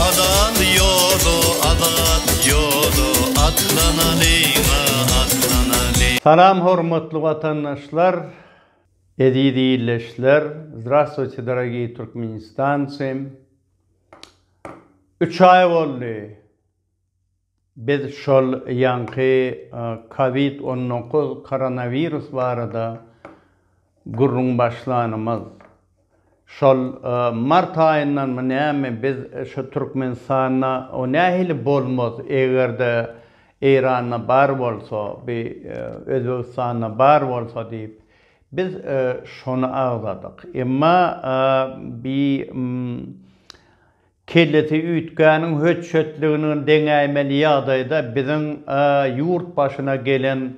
Azat ýoda, azat ýoda, atlanalyň-a, atlanalyň. Salam hormatly watandaşlar, eziz ildeşler, Zdravstwuýte, dorogiý Türkmenistancy! Üç aý boldy, Biz şol ýaňky covid on dokuz koronawirus barada gürrüň başlanymyz. Şol mart aýyndanmy näme biz şu Türkmenistanda o nähili bolmaz egerde Eýranda bar bolsa bi Özbegistanda bar bolsa diýip biz şony agzadyk. Emma bi Kellesi üýtgäniň höt-şötliginiň deňäýmeli ýagdaýda biziň ýurt başyna gelen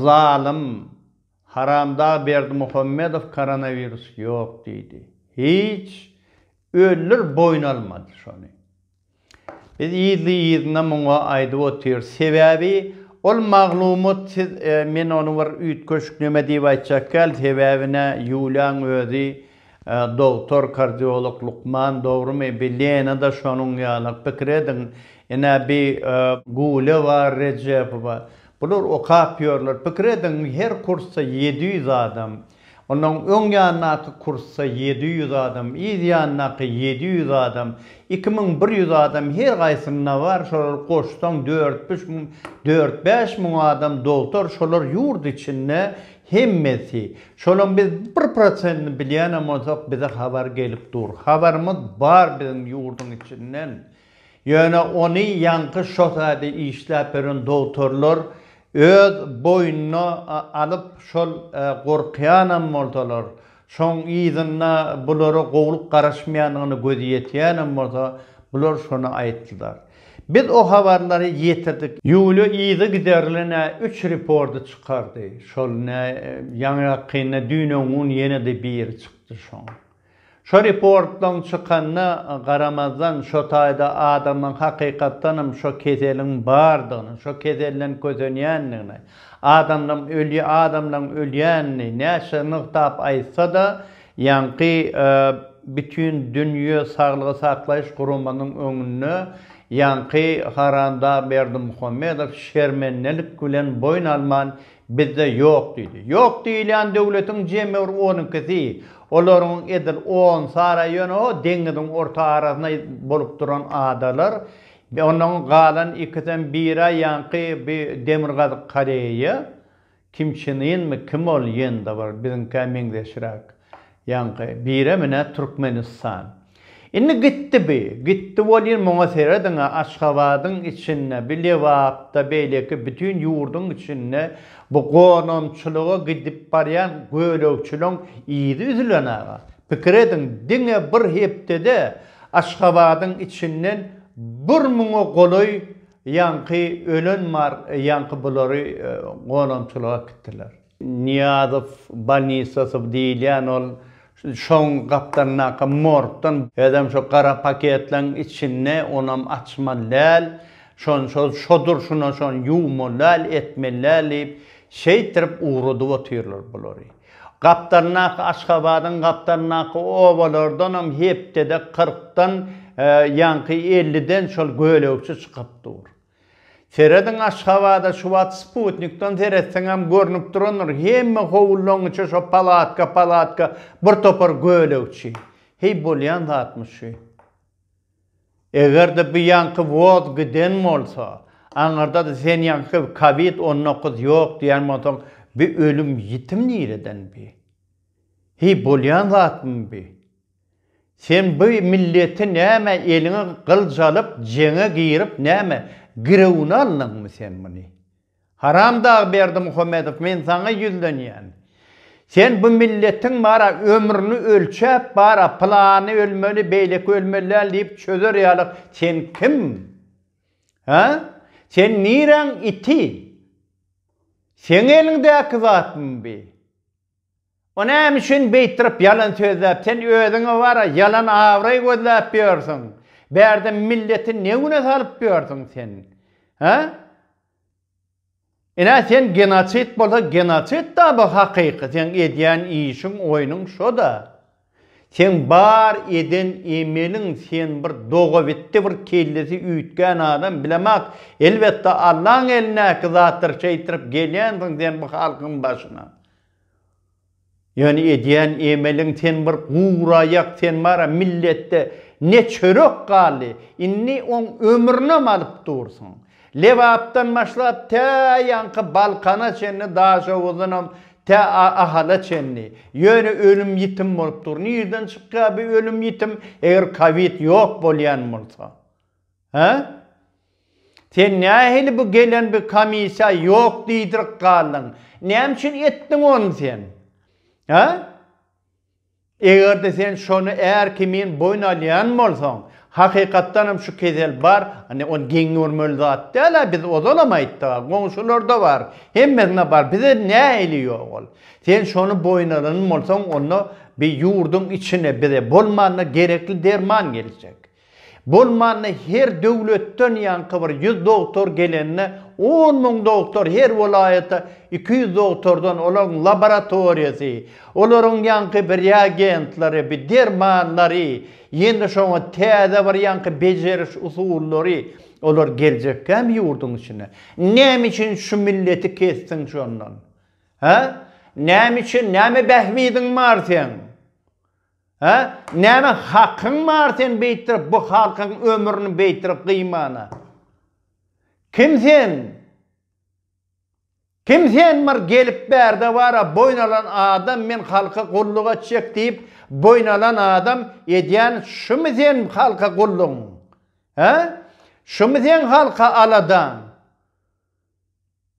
zalym haramdag Berdimuhamedow koronawirus ýok diýdi. Hiç ölüler boýun almady şony. Biz yzly-yzyna muňa aýdyp otyrys. Sebäbi ol maglumat siz men ony bir üýtgeşik neme diýip aýtjak däl sebäbi nä Ýuliýaň özi Dogtor kardiolog lukman dogrymy bilýäne-de şonuň ýaly pikir ediň. Ine bi Gule bar Rejepowa. Bular okap ýörler. Pikir ediň her kursda ýedi ýüz adam. Onnoň öň ýandaky kursda ýedi ýüz adam, yz ýandaky ýedi ýüz adam, iki müň bir ýüz adam her gaýsynda bar. Şolary goşsaň dört-büş müň, dört-bäş müň adam dogtor şolar ýurt içinde Hemmesi. Şolaň biz bir prosentini bilýänem bolsak bize habar gelip dur. Habarymyz bar biziň ýurduň içinden. Ýöne ony ýaňky şo saýda işläp ýören dogtorlar öz boýnuna alyp şol gorkýanam bolsalar, Şoň yzynda bulara gowluk garaşmaýandygyna gözi ýetýänem bolsa, bular şony aýtdylar. Biz o habarlary ýetirdik. Ýuliýa yzygiderli nä üç repordy çykardy, şol nä ýaňy-ýakynda düýn-öňňun ýene-de biri çykdy şoň. Şo reportlaryň çykanyna garamazdan, şo taýda adamlaryň hakykatdanam şo keseliň bardygyny, şo keselden kösenýändigini, Adamlaň ölýä adamlaň ölýänini näçe nygtap aýtsa-da, ýaňky Bütin dünýe saglygy saklaýyş guramanyň öňünde ýaňky haramdag Berdimuhamedow şermendelik bilen boýun alman bizde ýok diýdi. Ýok diýilýän döwletiň jemi bir on ikisi, olaryň edil on sara ýöne-ho deňiziň orta arasynda bolup duran adalar, Onuň galan ikisem bir aý ýaňky bi demirgazyk koreýa kim çyn ynmy kim ol ýnda bir biziňkä meňzeşiräk ýaňky birem ine türkmenistan indi gitdi bi gitdi bolýyn muňa serediňä aşgabadyň içinde bi lebapda beýleki bütin ýurduň içinde bu gonamçylyga gidip barýan gölegçiligiň yzy üzülen aga Pikir ediň, diňe bir hepdede Aşgabadyň içinden bir müňe golaý ýaňky ölen bar, ýaňky bulary gonamçylyga äkitdiler. Nyýazow, Banisosow diýilýän ol şoň gapdalyndaky morgdan. Özem şo gara paketleň içinde, onam açmaly däl, şony şo, şo durşuna şony ýuwmaly däl, etmeli däl diýip, şeýtirip ugradyp otyrlar bulary. Gapdalyndaky Aşgabadyň gapdalyndaky obalardanam hepdede kyrkdan ýaňky elliden şol gölegçi çykyp dur. Serediň Aşgabada şu wagt sputnikden seretseňem görnüp durandyr, hemme howlunyň içi şo palatka-palatka bir topar gölegçi. Heý bolýan zatmy şu. Eger-de bu ýaňky woz giden bolsa, aňyrda da sen ýaňky kowid on dokuz ýok diýen bolsaň, bu ölüm ýitim nireden bi? Heý bolýan zatmy bi? Sen bu milleti näme eliňe gylyç alyp jeňe girip näme girewine aldyňmy sen muny? Haramdag Berdimuhamedow men saňa ýüzlenýän. Sen bu milletiň bara ömrüni ölçäp bara pylany ölmeli beýleki ölmeli däl diýip çözer ýaly sen kim? Hä? Sen niräň iti? Seň eliňdäki zatmy bi? O näme üçin beýtdirip ýalan sözläp, sen özüňe wara ýalan abraý gözläp ýörsüň. Bärde milleti ne güne salyp ýörsüň sen? Hä? Ine sen genosit bolsa genosit da bu hakyky seň edýän işiň oýnuň şoda. Seň bar eden emeliň sen bir dogabitdi bir kellesi üýtgän adam bilemok elbetde Allaň elindäki zatdyr şeýtirip gelýänsiň sen bu halkyň başyna ýöne edýän emeliň sen bir guraýak sen bara milletde ne çörek galdy indi oň ömrünem alyp dursuň Lebapdan başlap, tä ýaňky Balkana çenli, Daşoguzdanam tä Ahala çenli. Ýöne ölüm-ýitim bolup dur. Nirden çykýar bu ölüm-ýitim, eger kowid ýok bolýan bolsa? Hä? Sen nähili bu gelen bu komissiýa ýok diýdirip galdyň? Näme üçin etdiň ony sen? Hä? Eger-de sen şony är kimin boýun alýan bolsaň, hakykatdanam şu kesel bar, ine, ony geň görmeli zat däl-ä, biz ozalam aýtdyk-a, goňşularda bar, hemmesinde bar, bize nähili ýok ol? Sen şony boýun alan bolsaň, onda bi ýurduň içine bize bolmanda gerekli derman geljek. Bolmanda her döwletden ýaňky bir ýüz dogtor gelende on müň dogtor her welaýata iki ýüz dogtordan olaryň laboratoriýasy olaryň ýaňky bir reagentleri bir dermanlary ýene şoňa täze bir ýaňky bejeriş usullary olar geljekkämi ýurduň içine näme üçin şu milleti kesdiň şondan he näme üçin näme bähbidiň bar seň Hä? Näme hakyň bar sen beýtdirip bu halkyň ömrüni beýtdirip gyýmana? Kim sen? Kim sen bir gelip bärde bara boýun alan adam men halka gulluk etjek diýip boýun alan adam edýän şumy sen halka gullugyň? Hä? Şumy sen halka aladaň?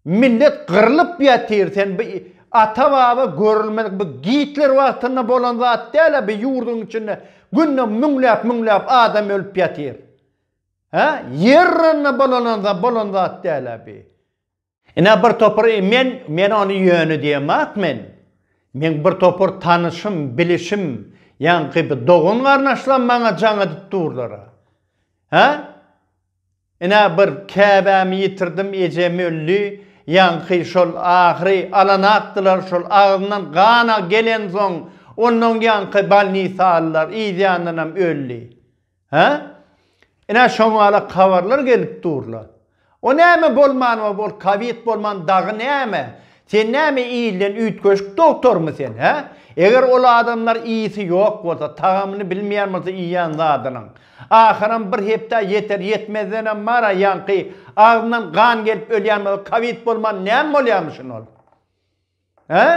Millet gyrlyp ýatyr sen bu ata baba görülmedik bu Gitler wagtynda bolan zat däla bu ýurduň içinde günde müňläp müňläp adam ölüp ýatyr hä ýerrnda bolananza bolan zat däla bi. Ine bir topar men men ony ýöne diýemak men meň bir topar tanyşym bilişim ýaňky bi dogan garnaşlam maňa jaň edip durlara hä Ine bir käbämi ýitirdim ejem öldi ýaňky şol ahyry alana atdylar şol agzyndan gana gelensoň ondan ýaňky balnisa aldylar yzýandanam öldi hä ine şoňala habarlar gelip durla o näme bolmanyba bol kowid bolman dagy näme Sen näme ilden üýtgeşik dogtormy sen, hä? Eger ol adamlar iýsi ýok bolsa, tagamyny bilmeýän bolsa iýýän zadynyň. Ahyram bir hepdä ýeter, ýetmezdenem bar-a ýaňky, agzyndan gan gelip ölýän bolsa kowid bolman näme bolýarmyşyn ol? Hä?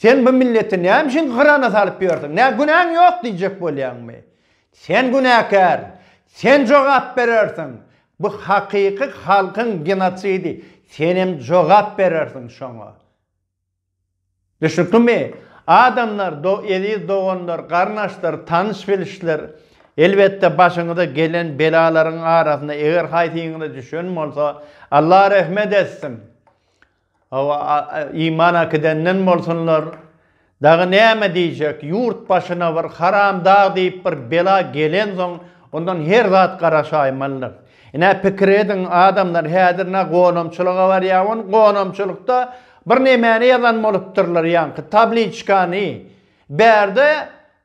Sen bu milleti näme üçin gyrana salyp ýörsiň? Nä günäň ýok diýjek bolýaňmy? Sen günäkär! Sen jogap berersiň! Bu hakyky halkyň genosidi. Senem jogap berersiň şoňa. Düşnüklimi? Adamlar, eziz doganlar, garyndaşlar, tanyş-bilişler, elbetde, başyňyza gelen belalaryň arasynda eger haýsyňyza düşen bolsa, Alla rehmet etsin! Hawa, iman äkidenden bolsunlar. Dagy näme diýjek, ýurt başyna bir haramdag diýip bir bela gelensoň, ondan her zat garaşaýmalydyr. Ine, pikir ediň, adamlar häzir ine gonamçylyga barýaryn, gonamçylykda birnemäni ýazan bolupdyrlar ýaňky tabliçkany. Bärde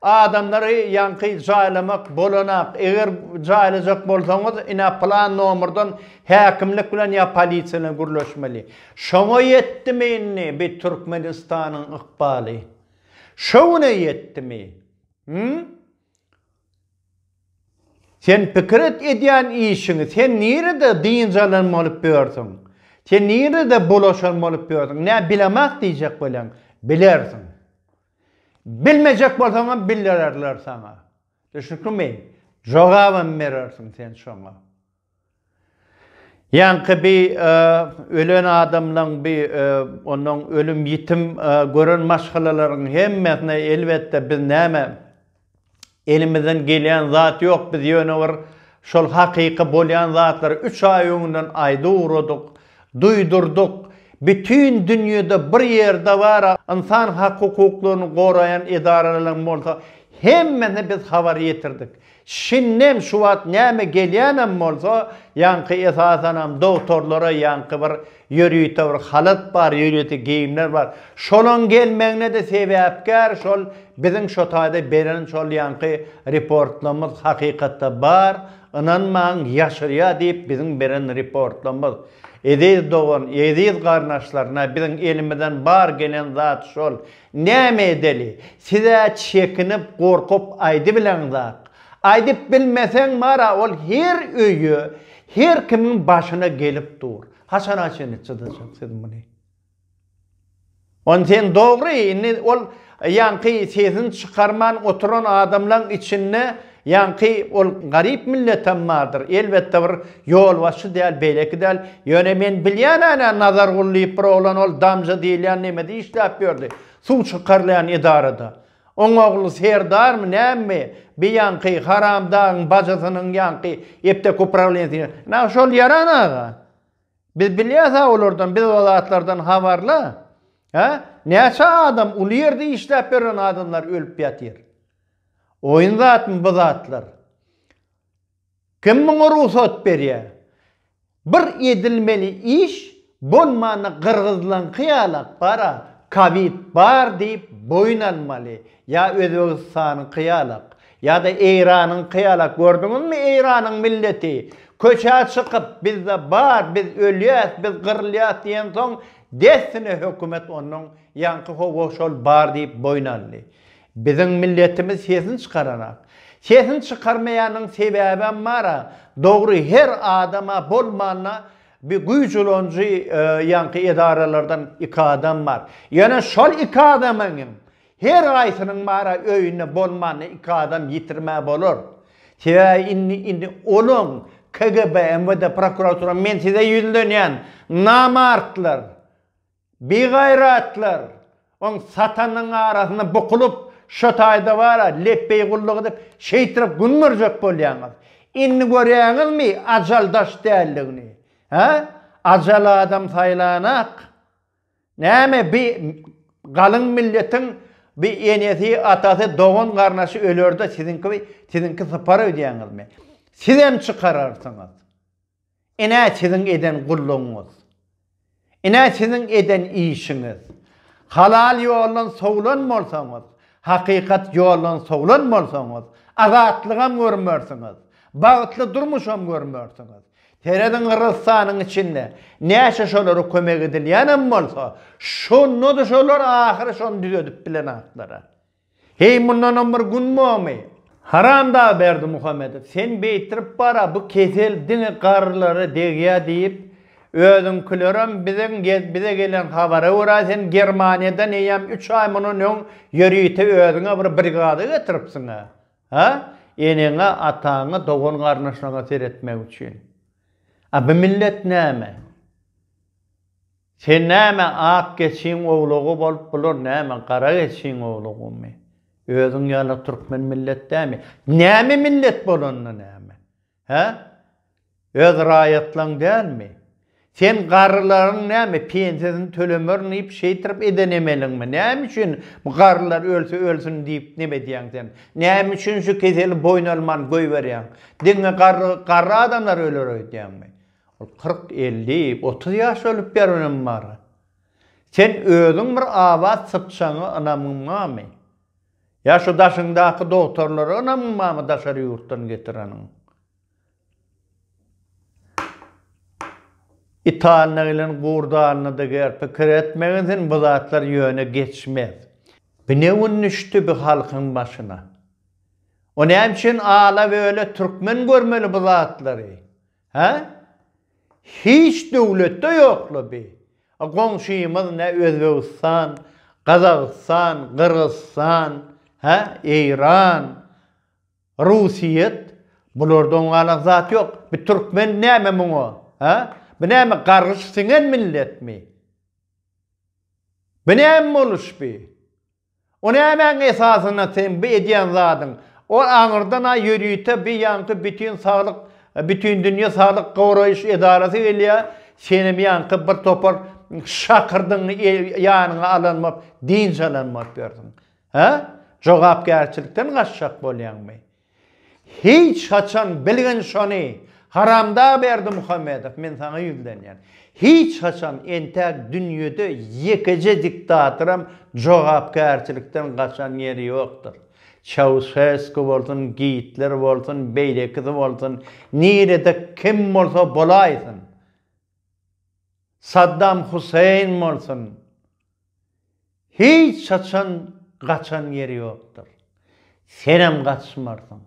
adamlary ýaňky jaýlamak bolanak, eger jaýlajak bolsaňyz ine plan nomerden häkimlik bilen ýa polisiýa bilen gürleşmeli. Şoňa ýetdimi indi bi Türkmenistanyň ykbaly? Şo güne ýetdimi? Hum? Sen pikir et edýän işiňi, sen nirede dynç alan bolup ýörsüň? Sen nirede bulaşan bolup ýörsüň? Nä bilemok diýjek bolan? Bilersiň. Bilmejek bolsaňam bildirerler saňa. Düşnükmi? Jogabam berersiň sen şoňa. Ýaňky bi ölen adamlaň bi onnoň ölüm ýitim gören maşgalalaryň hemmesine elbetde biz näme elimizden gelýän zat ýok biz ýöne bir şol hakyky bolýan zatlary üç aý öňünden aýdyp ugradyk duýdurdyk bütin dünýede bir ýerde bar ynsan hak hukuklaryny goraýan edaralaryň bolsa hemmesine biz habar ýetirdik Şindem şu wagt näme gelýänem bolsa, ýaňky esasanam dogtorlara ýaňky bir ýörite bir halat bar, ýörite geýimler bar. Şolaň gelmegine-de sebäpkär şol biziň şo taýda beren şol ýaňky reportlarymyz hakykatda bar, ynanmaň ýaşyrýar diýip biziň beren reportlarymyz. Eziz dogan, eziz garyndaşlar, nä biziň elimizden bar gelen zat şol. Näme edeli? Siz-ä çekinip, gorkup aýdybileňzak. Aýdyp bilmeseň, Mara, ol her öýe, her kimiň başyna gelip dur. Haçana çenli çydajaksy siz muny? Ony sen dogry, indi ol ýaňky sesini çykarman oturan adamlaň içinde Ýaňky ol garyp milletem bardyr, elbetde bir ýolbaşçy däl, beýleki däl. Ýöne men bilýänä-nä Nazargul diýip bir oglan ol damja diýilýän nemede işläp ýördi, suw çykarylýan edarada. Oň ogly serdarmy, nämemi, bi ýaňky haramdagyň bajysynyň ýaňky eptek uprawleniýesi. Ynha, şol Ýaran aga. Biz bilýäs-ä olardan, biz o zatlardan habarly. Hä? Näçe adam uly ýerde işläp ýören adamlar ölüp ýatyr. Oýun zatmy bu zatlar? Kim muňa rugsat berýä? Bir edilmeli iş bolmanda gyrgyzlaňky ýalak bara kowid bar diýip boýun almaly ýa özbegistanyňky ýalak ýada eýranyňky ýalak gördüňizmi eýranyň milleti köçä çykyp bizde bar biz ölýäs biz gyrylýas diýensoň dessine hökümet onnoň ýaňky howa şol bar diýip boýun aldy Biziň milletimiz sesini çykararak. Sesini çykarmaýanyň sebäbem bara dogry her adama bolmanda bir güýç ulanjy ýaňky edaralardan iki adam bar. Ýöne şol iki adamyň hem her gaýsynyň bara öýünde bolmanda iki adam ýitirmä bolar. Sebäbi indi indi olaň KGB MVD prokuratura men size ýüzlenýän namartlar Bigaýratlar! Oň satanyň arasyna bukulyp, şo taýda bar-a, lepbeý gulluk edip, şeýtirip gün görjek bolýaňyz. Indi görýäňizmi ajal daş däldigini? Hä? Ajal adam saýlanak. Näme, bi galyň milletiň bi enesi, atasy, dogan-garnaşy öler-de, siziňki, siziňki sypar öýdýäňizmi? Sizem çykararsyňyz. Ine siziň eden gullugyňyz. Ine siziň eden işiňiz. Halal ýoldan sowlan bolsaňyz, hakykat ýoldan sowlan bolsaňyz, azatlygam görmersiňiz, bagtly durmuşam görmersiňiz. Serediň Gyrgyzystanyň içinde näçe şolara kömek edilýänem bolsa, şonda-da şolar ahyry şony düzedip bilenaklara. Heý mundanam bir gün bormy? Haramdag Berdimuhamedow, sen beýtirip bar-a bu kesel diňe garrylara degýär diýip, özüňkilerem biziň bize gelen habara görä sen Germaniýadan eýýäm üç aý mundan öň ýörite özüňe bir brigada getiripsiň-ä, ha, eneňe, ataňa, dogan-garyndaşlaryňa seretmek üçin. A bu millet näme? Sen näme ak geçiň owlagy bolup bular näme gara geçiň owlagymy? Özüň ýaly türkmen millet dämi? Näme millet bolanda näme? Hä? Öz raýatlaň dälmi? Sen garylaryň näme pensiýasyny tölemerin diýip şeýtirip eden emeliňmi? Näme üçin bu garylar ölse ölsün diýip neme edýäň sen? Näme üçin şu keseli boýun alman goýberýäň? Diňe garry garry adamlar öler öýdýäňmi? Ol kyrk, elli, otuz ýaş ölüp ýörenem bar. Sen özüň bir abat sypjaňa ynamyň barmy? Ýa şu daşyňdaky dogtorlara ynamyň barmy daşary ýurtdan getireniň? Itanyna gelen gurdanyna-da ger, pikir etmegin sen bu zatlar ýöne geçmez. Bu ne gün düşdi bu halkyň başyna? O näme üçin ala-böle türkmen görmeli bu zatlary? Hä? Hiç döwletde ýokla bi. A goňşymyz nä Özbegistan, Gazagystan, Gyrgyzystan, hä, Eýran, Russiýet? Bularda oňalak zat ýok. Bi türkmen näme muňa, hä? Bi näme gargyş siňen milletmi? Bi näme boluş bi? O nämäň esasynda seň bu edýän zadyň? Ol aňyrdan-a ýörite bu ýaňky bütin saglyk Bütindünýä saglyk goraýyş edarasy gelýär, senem ýaňky bir topar şakyrdyňy ýanyňa alan bolup, dynç alan bolup ýörsiň. Hä? Jogapkärçilikden gaçjak bolýaňmy? Hiç haçan, bilgin şony, haramdag Berdimuhamedow, men saňa ýüzlenýän, hiç haçan entäk dünýede ýekeje diktatoram jogapkärçilikden gaçan ýeri ýokdur. Çauşesku bolsun, Gitler bolsun, beýlekisi bolsun, nirede kim bolsa bolaýsyn, Saddam Huseýn bolsun, Hiç haçan gaçan ýeri ýokdur. Senem gaçmarsyň.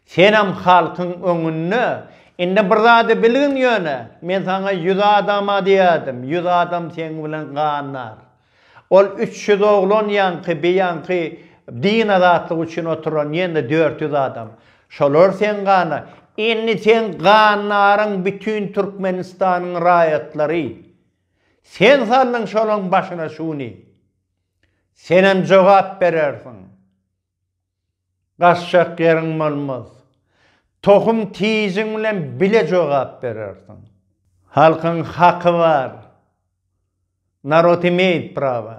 Senem halkyň öňünde. Indi bir zady bilgin ýöne, men saňa ýüz adama diýerdim, ýüz adam seň bilen gandar. Ol üç ýüz oglan ýaňky, bi ýaňky din azatlyk üçin oturan ýene dört ýüz adam. Şolar seň gandar. Indi seň gandaryň bütin Türkmenistanyň raýatlary. Sen saldyň şolaň başyna suny. Senem jogap berersiň. Gaçjak ýeriň bolmaz. Tohum tijiň bilen bile jogap berersiň. Halkyň haky bar. Narod imeýt prawa.